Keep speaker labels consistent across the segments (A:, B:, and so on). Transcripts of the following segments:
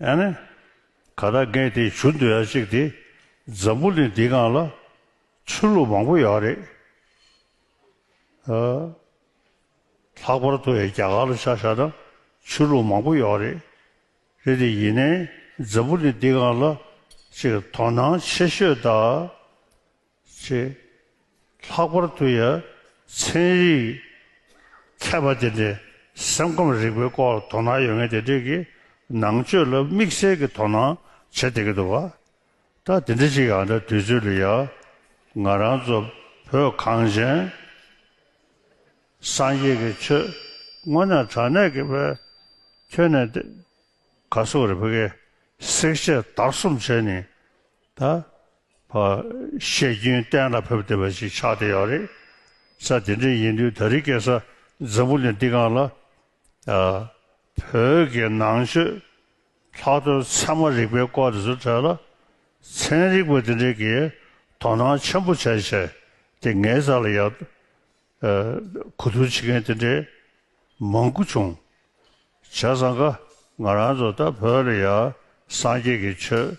A: ཨ་ནི། ག་ད་རྒན་དེ་བྱུར་འདུག་ཡག་ཅིག་དེ། འཛམ་བུ་གླིང་འདི་གང་ལ། ཆོས་ལུགས་མང་པོ་ཡག་རེད། ཨ། ལྷག་པར་དུ་ཡ་རྒྱ་གར་ལ་ཆ་བཞག་ན་ཆོས་ལུགས་མང་པོ་ཡག་རེད། རེད་དེ་ཡིན་ནའི་འཛམ་བུ་གླིང་འདི་གང་ལ། ཅིག་དོ་སྣང་ཆེ་ཤོས་ད། ཞེས། ལྷག་པར་དུ་ཡ་མཚན་རིག་མཁས་པ་དེ་འདྲའི་སེམས་ཁམས་རིག་པའི་སྐོར་ལ་དོ་སྣང་ཡོད་མཁན་དེ་འདྲས་ཀྱིས་ནང་ཆོས་ལ་དམིགས་བསལ་གྱི་དོ་སྣང་བྱེད་བསྡད་ཀྱི་འདུག་བ། ད་དེ་འདྲ་ཞིག་ཡང་འདྲ་དུས་ཚོད་ལ་ཡ། ང་རང་ཚོ་བོད་གངས་ཅན་སངས་རྒྱས་ཀྱི་ཆོས་དངོས་ནས་དྲང་གནས་ཀྱི་བས་ཁྱོན་ནས་དེ་ག་སོག་རི་བྷ་གའི་བསྲེག་བཅད་དར་གསུམ་བྱས་ནས་ད་བ། བཤད་རྒྱུན་གཏན་ལ་ཕེབས་བསྡད་པ་ཞིག་ཆགས་བསྡད་ཡོད་རེད། ས་དེ་འདྲ་ཡིན་དུས་ད་རི་སྐད་ས་འཛམ་བུ་ལས་འདི་གང་ལ། བོད་ཀྱི་ནང་ཆོས་ལྷག་དོན་ཚད་མ་རིག་པའི་སྐོར་དེ་ཚོ་གྲལ་ལ། ཚན་རིག་པ་དེ་འདྲས་ཀྱིས་དོ་སྣང་ཆེན་པོ་བྱས་བྱས་ཏེ་ངའི་རྩ་ལ་ཡར། གོ་བསྡུར་བྱེད་མཁན་དེ་འདྲས་མང་དགུ་བྱུང། བྱས་ཙང་ཀ་ང་རང་ཚོ་ད་བོད་ལ་ཡར་སངས་རྒྱས་ཀྱི་ཆོས།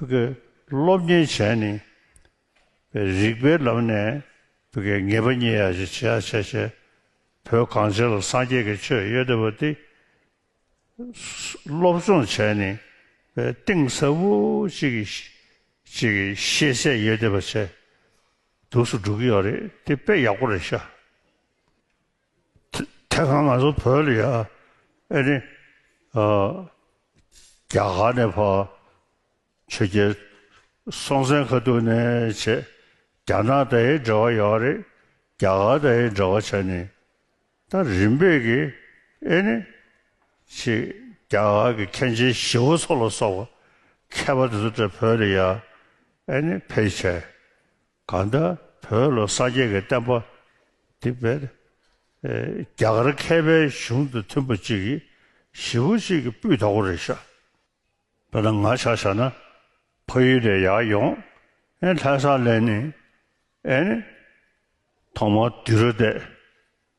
A: ཐུ་གེ་སློབ་གཉེར་བྱས་ནི། རིགས་པའི་ལམ་ནས་ཐུ་གེ་ངེས་པ་རྙེད་ཡག་ཅིག་བྱས་བྱས་བྱས། བོད་གངས་ཅན་ལ་སངས་རྒྱས་ཀྱི་ཆོས་ཡོད་བསྡད་པ་འདི། སློབ་སྦྱོང་བྱས་ནི། གཏིང་ཟབ་པོ་ཅིག་ཅིག་ཤེས་ཚད་ཡོད་བསྡད་པ་བྱས། དུགས་སུ་འགྲོ་གི་ཡོད་རེད་དེ་དཔེ་ཡག་པོ་རེད་ཤག། དེ་གང་ང་ཚོ་བོད་ལ་ཡ་ཨེ་ནི། རྒྱ་གར་ནས་ཕ་ཆོས་རྒྱལ་སྲོང་བཙན་ཁ་ཐུག་ནས་བྱས་རྒྱ་ནག་དེ་ཡི་འབྲེལ་བ་ཡོད་རེད་རྒྱ་གར་དེ་ཡི་འབྲེལ་བ་བྱས་ནས་ད་རིམ་པས་ཀྱི་ཨེ་ནི། ཆེ་རྒྱ་གར་གྱི་མཁན་ཆེན་ཞི་བ་འཚོ་ལ་སོགས་པ་མཁས་པ་དེ་ཚོ་བོད་ལ་ཡ་ཨེ་ནི་ཕེ་བྱས། གང་ལྟར་བོད་ལོ་གསར་རྒྱལ་གྱི་བསྟན་པ་འདི་བོད་རྒྱ་གར་མཁས་པའི་གཞུང་དང་མཐུན་པ་གཅིག་གིས་ཞི་བ་གཅིག་གིས་སྤུས་དག་པོ་རེ་བཞག་པ་ན་ང་ཆ་བཞག་ན་ཕ་ཡུལ་ལས་ཡར་ཡོང་ཨེ་ལྷན་སང་ལས་ནི་ཨེ་ནི་ཐོག་མར་དུས་རབས་འདས།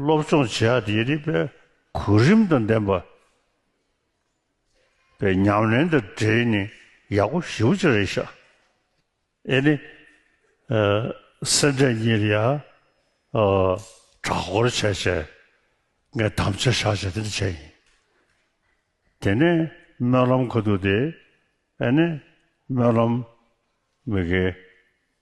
A: སློབ་སྦྱོང་བྱེད་ཡག་དེ་རིག་པའི་གོ་རིམ་དང་ལྡན་པ་པའི་ཉམས་ལེན་དང་འབྲེལ་ནས་ཡག་པོ་ཞིབ་བརྗོད་རེ་བྱ་ཨེ་ནི། སེམས་ཁྲལ་གཉིས་རེ་ཡང་དྲག་སྐོར་བྱས་བྱས་ངས་དམ་བཅའ་བཞག་བྱས་དེ་འདྲ་བྱས་ཡིན། དེ་ནས་སྨོན་ལམ་གོ་འདུག་དེ་ཨེ་ནི་སྨོན་ལམ་མི་དགེ།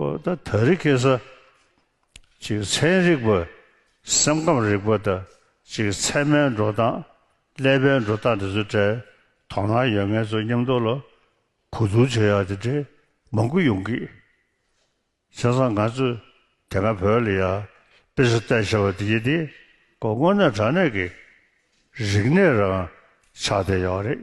A: ཀོ་ད་ད་རི་ཀེ་ས། གཅིག་མཚན་རིག་པ། སེམས་ཁམས་རིག་པ་དང་གཅིག་མཚན་མའི་འགྲོ་སྟངས། ཀླད་པའི་འགྲོ་སྟངས་དེ་ཚོའི་གྲས་དོ་སྣང་ཡོད་མཁན་ཚོ་མཉམ་འདུག་ལ་གོ་བསྡུར་བྱེད་ཡག་དེ་འདྲའི་མང་པོ་ཡོང་གི། བྱས་ཙང་ང་ཚོས་དེ་སྔ་བོད་ལ་ཡ་དཔེ་ཟུར་བལྟས་བྱས་པ་དེ་རྒྱུ་དེ་ཀོ་དངོས་གནས་དྲང་གནས་ཀྱི་རིག་གནས་རང་ཆགས་དེ་ཡོད་རེད།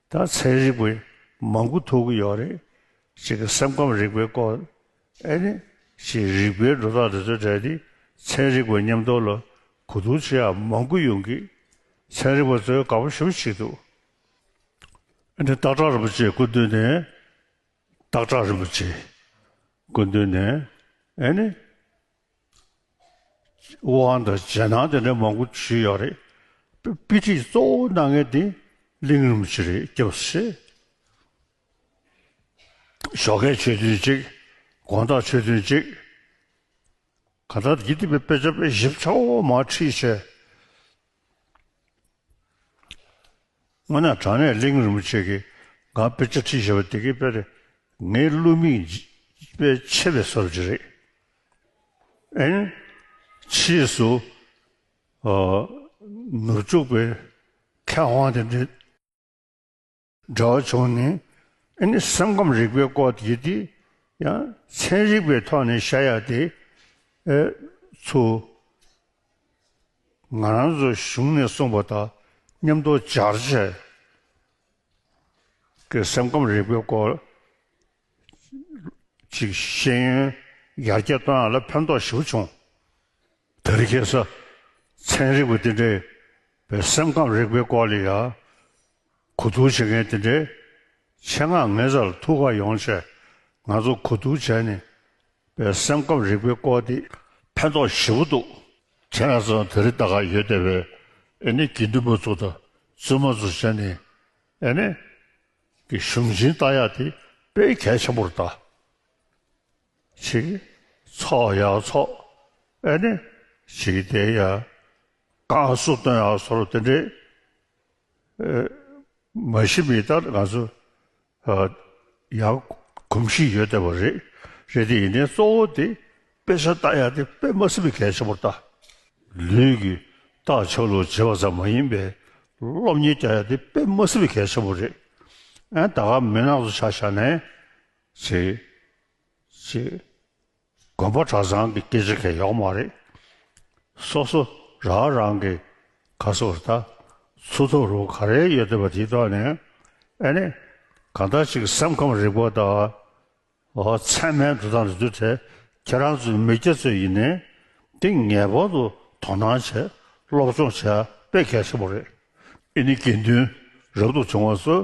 A: ད་ཚན་རིག་པས་མང་གུ་ཐུག་གི་ཡོད་རེད། གཅིག་གི་སེམས་ཁམས་རིག་པའི་སྐོར། ཨེ་ནི། གཅིག་རིག་པའི་སྒྲོ་བཏགས་འདི་ཚོའི་གྲས་འདི་ཚན་རིག་པའི་ཉམས་རྟོགས་ལ་གུ་དུག་ཆེ་ཡང་མང་གུ་ཡོང་གི། ཚན་རིག་པ་ཚོས་དགའ་པོ་ཞུ་བྱེད་འདུག། ཨེ་ནི། སྟག་བྲག་རིན་པོ་ཆེའི་སྐུ་མདུན་ནས། སྟག་བྲག་རིན་པོ་ཆེའི་སྐུ་མདུན་ནས། ཨེ་ནི། ཝུ་ཧན་དང་ཇེ་ནང་དེ་འདྲའི་མང་པོ་བྱུས་ཡོད་རེད། དཔེ་ཁྲིད་གཙོ་བོ་གནང་མཁན་དེ་གླིང་རིམ་གྱི་རེད་སྐྱབས་བཤད། ཞོགས་ཁའི་ཆོས་ཐུན་གཅིག་དགོངས་དག་ཆོས་ཐུན་གཅིག། གང་ལྟར་དགེ་སྡིག་པའི་དཔེ་ཆ་དཔེ་ཞིབ་ཚ་བོ་མ་ཁྲིད་བྱས། སྔོན་ན་དྲང་གནས་གླིང་རིན་པོ་ཆེ་གིས་ང་དཔེ་ཆ་ཁྲིད་ཞེས་པ་དེ་གའི་དཔེ་རེད། ངའི་བསླུ་མིག་དཔེ་ཆེ་བའི་སོར་བཞི་རེད། ཨན། ཕྱིས་སུ། ནུབ་བྱུག་པའི་མཁས་དབང་དེ་འདྲས། འདྲ་བ་བྱུང་ནས་ཨེ་ནི་སེམས་ཁམས་རིག་པའི་སྐོར་དེ་དུས་ཡང་ཚན་རིག་པའི་ཐོག་ནས་བྱ་ཡག་དེ་ཚུ་ང་རང་ཚོ་གཞུང་ནས་གསུངས་པ་དང་མཉམ་དུ་སྦྱར་བྱས་ཀྱི་སེམས་ཁམས་རིག་པའི་སྐོར་ཅིག་ཤེས་ཡོན་ཡར་རྒྱས་གཏོང་ཡག་ལ་ཕན་ཐོགས་ཞིབ་བྱུང་དེ་རིགས་ཁེ་ས་ཚན་རིག་པ་དེ་འདྲ་བའི་སེམས་ཁམས་རིག་པའི་སྐོར་ལ་ཡང་གོ་བསྡུར་བྱེད་མཁན་དེ་འདྲའི་ཆེད་མངགས་ངེད་ཚ་ལ་ཐུགས་ཁག་ཡོང་ཆེད་ང་ཚོ་གོ་བསྡུར་བྱས་ནས་པའི་སེམས་ཁམས་རིག་པའི་སྐོར་དེ་ཕན་ཐོགས་ཞེ་བོ་འདུག་དེ་ང་ཚོ་དེ་རིགས་ལྟ་ག་ཡོད་བསྡད་པས་ཨེ་ནི་དགེ་འདུན་པ་ཚོ་དང་བཙུན་མ་ཚོ་བྱས་ནས་ཨེ་ནི་གི་གཞུང་ཆེན་ལྟ་ཡག་དེ་དཔེ་གལ་ཆེན་པོར་ལྟ་བྱེད་ཀྱི་ཚོགས་ཡག་ཚོགས་ཨེ་ནི་བྱེད་ཀྱི་བསྡད་ཡག་བསྐང་གསོ་བཏོན་ཡག་སོར་དེ་འདྲའི་མ་གཞི་མི་ལྟར་ང་ཚོ་ཡང་གོམས་གཤིས་ཡོད་བསྡད་པ་རེད། རེད་དེ་ཡིན་ནའི་གཙོ་བོ་དེ་དཔེ་ཆ་བལྟ་ཡག་དེ་དཔེ་མ་སྲིད་པའི་གལ་ཆེན་པོར་བལྟ། ལུས་ཀྱི་ལྟག་ཆོད་ལུགས་བརྗེ་བ་ཙམ་མ་ཡིན་པའི་སློབ་གཉེར་བསྐྱལ་ཡག་དེ་དཔེ་མ་སྲིད་པའི་གལ་ཆེན་པོ་རེད། ད་ག་མི་ནག་ཚོ་ཆ་བཞག་ནས། ཅེས། དགོན་པ་གྲྭ་ཚང་གི་སྐད་ཆ་གས་ཡོག་མ་རེད། སོ་སོ་ར་རང་གི་ག་སོ་ར་ད་ཚུ་ཐུག་རུ་ག་རེ་ཡོད་བསྡད་པ་དེ་ཐོག་ནས་ཨེ་ནས་གང་ད་ཅིག་སེམས་ཁམས་རིག་པ་ད་ཨོ་ཚད་མའི་འདུ་སྟངས་རེད་འདུག་དེ་ཁྱེད་རང་ཚོའི་མི་སྐྱ་ཚོས་ཡིན་ནའི་དེ་ངེས་པར་དུ་དོ་སྣང་བྱས་སློབ་སྦྱོང་བྱས་པས་གལ་ཆེན་པོ་རེད་ཨེ་ནས་དགེ་འདུན་རབ་ཏུ་བྱུང་བ་ཚོས།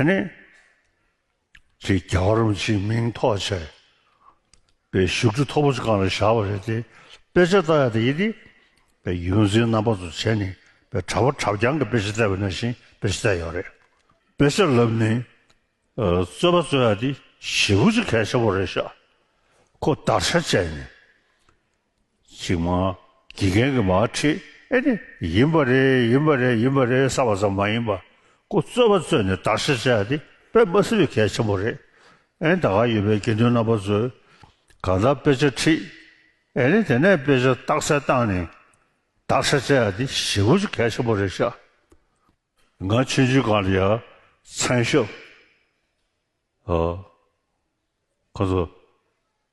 A: དེ་ནི་དེ་རྒྱ་གར་བ་ཕྱིའི་མིང་ཐོག་བྱས་པའི་བཞུགས་ཁྲི་མཐོ་པོ་ཆེ་གང་ལ་བཞག་པ་རེད་དེ་དཔེ་ཆ་བལྟ་ཡ་དེ་ཡིན་ཏེ། པའི་ཡོན་འཛིན་རྣམ་པ་ཚོ་བྱས་ནས་པའི་གྲྭ་བ་གྲྭ་རྐྱང་གི་དཔེ་ཆ་བལྟ་བའི་ན་བཞིན་དཔེ་ཆ་བལྟས་ཡོད་རེད། དཔེ་ཆ་ལབ་ནས་རྩོད་པ་རྩོད་ཡ་དེ་ཞེ་བུ་ཆེ་གལ་ཆེ་བོ་རེད་ཤག་ཁོ་བདར་ཤ་བཅད་ནས་ཞིག་མ། དགེ་རྒན་གྱི་མ་ཁྲིད་ཨེ་ནི་ཡིན་པ་རེད་ཡིན་པ་རེད་ཡིན་པ་རེད་བསམ་པ་ཙམ་མ་ཡིན་པ། ཀུ་རྩོད་པ་རྩོད་ནས་དར་ཤ་བཅག་འདི་དཔེ་མ་སྲིད་པའི་གལ་ཆེན་པོ་རེད་ཨེ་ད་ག་ཡོད་པའི་དགེ་འདུན་རྣམ་པ་ཚོས་གང་ལྟར་དཔེ་ཆ་ཁྲིད་ཨེ་ནི་དེ་ནས་དཔེ་ཆ་རྟགས་གསལ་བཏང་ནས་དར་ཤ་བཅག་འདི་ཞེ་དགུ་ཅུ་གལ་ཆེན་པོ་རེད་ཤག་ང་ཆོས་འཇུག་གང་ལ་ཡ་མཚན་ཤོ་ཨོ་ཁོང་ཚོ་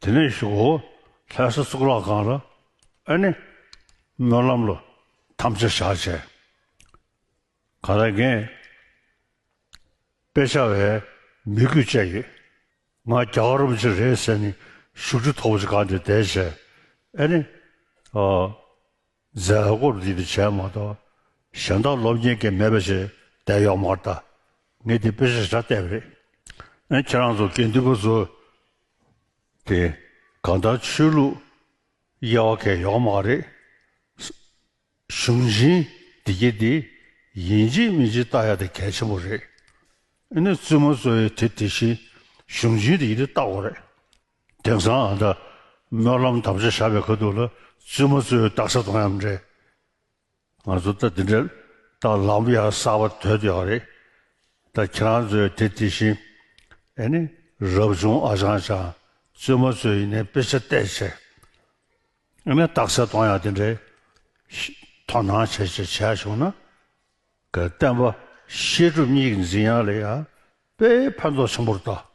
A: དེ་ནས་ཞུགས་ཧོ། ལྷའི་སྲས་གཙུག་ལག་ཁང་ལ་ཨེ་ནི། སྨོན་ལམ་ལོ་ཐམས་ཅད་བྱ་བྱས། ག་ལ་རྒན། དཔེ་ཆ་བས་མི་དགོས་དཔྱད་ཡོད། ང་རྒྱ་གར་རུམ་ཅི་རེད་ཟེར་ནས་ཞུགས་ཁྲི་ཐོག་པོ་ཅི་ག་འདི་བསྡད་བྱས་ཨེ་ནི། མཛད་སྒོར་འདི་འདི་བྱས་མ་གཏོགས་གཞན་དག་སློབ་གཉེར་གྱི་མེད་པ་ཞིག་བསྡད་ཡོག་མ་རེད་ད། ངས་འདི་དཔེ་ཞིག་ཧྲ་བལྟས་པ་རེད། ཨེ་ཁྱེད་རང་ཚོ་དགེ་འདུན་པ་ཚོ་དེ་གང་ལྟར་ཆོས་ལུགས་དབྱེ་བ་འཁེལ་ཡོག་མ་རེད། གཞུང་བཞིན་བདེ་སྐྱིད་འདི་ཡིན་གཅིག་མིན་གཅིག་བལྟ་ཡག་དེ་གལ་ཆེན་པོ་རེད། ཨེ་ནས་བཙུན་མོ་གཙོ་བའི་དེ་དེ་བཞིན་གཞུང་བཞིན་བདེ་སྐྱིད་འདི་བལྟ་དགོས་རེད། དེང་སང་ཨ་མདའ་སྨོན་ལམ་དམ་བཅའ་བཞག་པའི་ཁ་ཐུག་ལ་བཙུན་མོ་གཙོས་བཏགས་ས་དང་ཡང་མི་འདྲ། ང་ཚོ་ད་འདི་འདྲ་བཏགས་ལམ་ཡང་གསར་བ་དོད་དུ་ཡག་རེད་ད་ཁྱེད་རང་ཚོས་དེ་དེ་བཞིན་ཨེ་ནི་རབ་བྱུང་ཨ་ཅང་ཅང་བཙུན་མོ་གཙོས་ཡིན་ནའི་དཔེ་ཆ་བལྟས་བྱས་ཨེ་ནི་བཏགས་ས་དང་ཡང་དེ་འདྲའི་དོ་སྣང་བྱས་བྱས་བྱས་བྱུང་ན་ག་བསྟན་པ་བཤད་སྒྲུབ་གཉིས་ཀྱི་འཛིན་ཡ་ལ་ཡ་དཔེ་ཕན་ཐོག་ཆེན་པོར་བཏགས།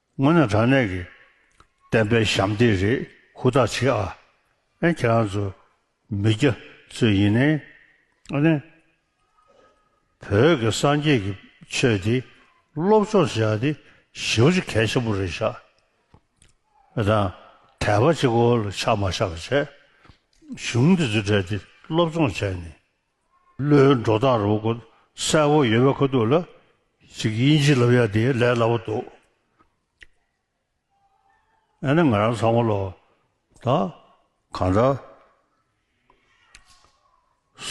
A: དངོས་ནས་དྲང་གནས་ཀྱི་བསྟན་པའི་ཞབས་འདེགས་རེད་ཧུར་ཐག་བྱེད་ཨ། ཨེ་ཁྱེད་རང་ཚོ་མི་རྒྱ་ཚོས་ཡིན་ནའི་ཨ་ནི། བོད་ཀྱི་སངས་རྒྱས་ཀྱི་ཆོས་འདི་སློབ་སྦྱོང་བྱེད་ཨ་འདི་ཞེ་བོ་ཆེ་གལ་ཆེན་པོ་རེད་ཤག་ཨེ་དང། དད་པ་ཅིག་ཨོ་ལ་ཆགས་མ་ཆགས་བྱས། གཞུང་འདི་ཚོ་བྲལ་ཏེ་སློབ་སྦྱོང་བྱས་ནས་བློའི་འགྲོ་སྟངས་རོ་གོ་གསལ་བོ་ཡོད་པ་ཁོ་ཐུག་ལ་ཞིག་དབྱིན་ཇི་ལབ་ཡ་དེ་ལས་སླ་བོ་འདུག་ཨ་ནི་ང་རང་ཚང་མ་ལོ་ད་གང་འདྲ་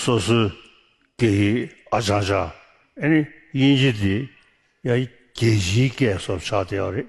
A: སོ་སོའི་སྐད་ཡིག་ཨ་ཅང་ཅང་ཨ་ནི་དབྱིན་ཇི་དེ་ཡ་རྒྱལ་སྤྱིའི་སྐད་སོགས་ཆགས་བསྡད་པ་རེད